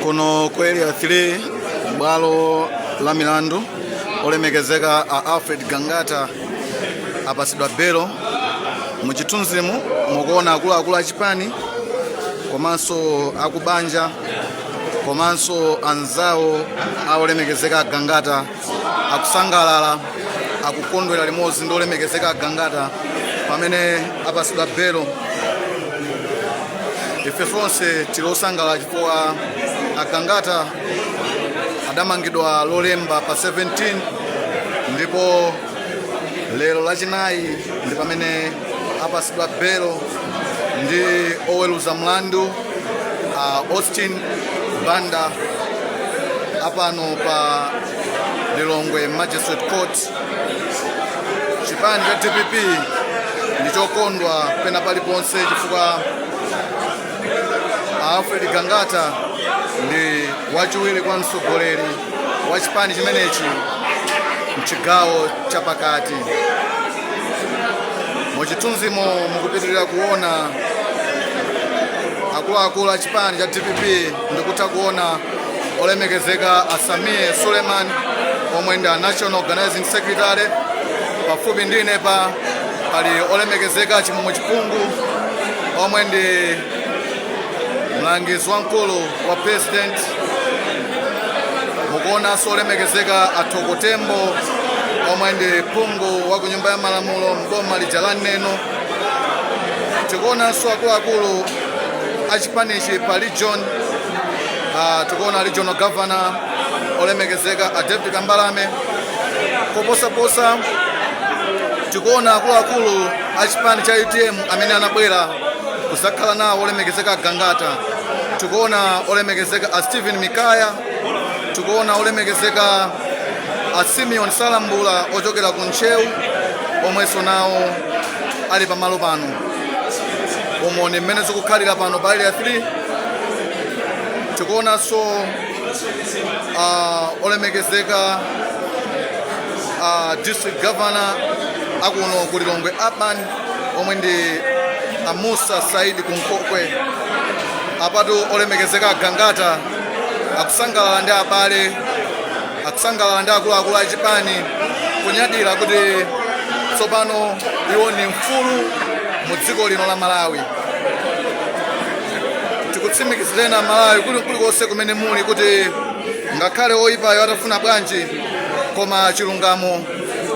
kuno ku area 3 bwalo la milandu olemekezeka a alfred gangata apasidwa belo mu chithunzimu mukuona akuluakulu achipani komanso akubanja komanso anzawo aolemekezeka agangata akusangalala akukondwera limodzi ndi olemekezeka agangata pamene apasidwa belo ife tonse tili osangalala chifukwa agangata adamangidwa lolemba pa 17 ndipo lero lachinayi ndi pamene apasidwa belo ndi oweluza mlandu a Austin Banda apano pa Lilongwe Magistrate Court. Chipani cha DPP ndichokondwa pena paliponse chifukwa Alfred Gangata ndi wachiwiri kwa mtsogoleri wa chipani chimenechi mchigawo chapakati. muchithunzimo mukupitirira kuona akuluakulu a chipani cha dpp ndikutha kuona olemekezeka a sameer suleman omwe ndi a national organizing secretary pafupi ndi inepa pali olemekezeka chimwemwe chipungu omwe ndi mlangizi wamkulu wa president mukuonanso olemekezeka athoko tembo omwe ndi phungu wa ku nyumba ya malamulo m'boma lija la neno tikuonanso akuluakulu a chipanichi pa region ah, tikuona regional governor olemekezeka a david kambalame koposaposa tikuona akuluakulu a chipani cha utm amene anabwera kuzakhala nawo olemekezeka agangata tikuona olemekezeka a stephen mikaya tikuona olemekezeka a simeon salambula ochokera ku ntcheu omwenso nawo ali pamalo pano umo ndi mmene zikukhalira pano pa area 3 tikuonanso uh, olemekezeka a district governor akuno ku lilongwe urban omwe ndi a Musa Said Kunkhokwe apatu olemekezeka agangata akusangalala ndi abale akusangalala ndi akuluakulu a chipani kunyadira kuti tsopano iwo ndi mfulu mu dziko lino la malawi tikutsimikizireni a malawi kuli kulikonse kumene muli kuti ngakhale oyipayo atafuna bwanji koma chilungamo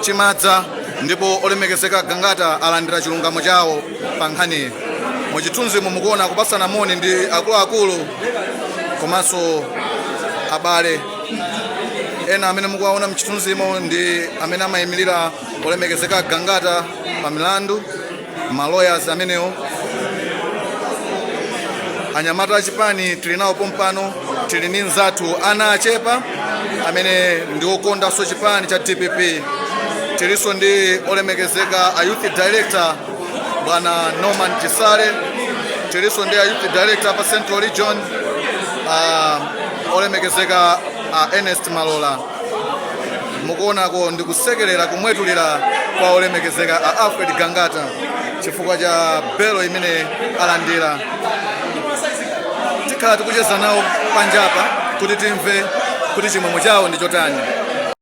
chimadza ndipo olemekezeka Gangata alandira chilungamo chawo pa nkhaniyi. Mchithunzimo mukuona kupatsana moni ndi akuluakulu komanso abale ena amene mukuwaona mchithunzimo ndi amene amayimirira olemekezeka Gangata pa milandu ma lawyers amenewo anyamata achipani tili nawo pompano tili ndi mzathu Anachepa amene ndi okondanso chipani cha dpp tilinso ndi olemekezeka a youth director bwana norman chisale tilinso ndi a youth director pa central region uh, olemekezeka a ernest malola mukuonako ndi kusekerera kumwetulira kwa olemekezeka a alfred gangata chifukwa cha belo imene alandira tikhala tikucheza nawo panjapa kuti timve kuti chimwemwe chawo ndi chotani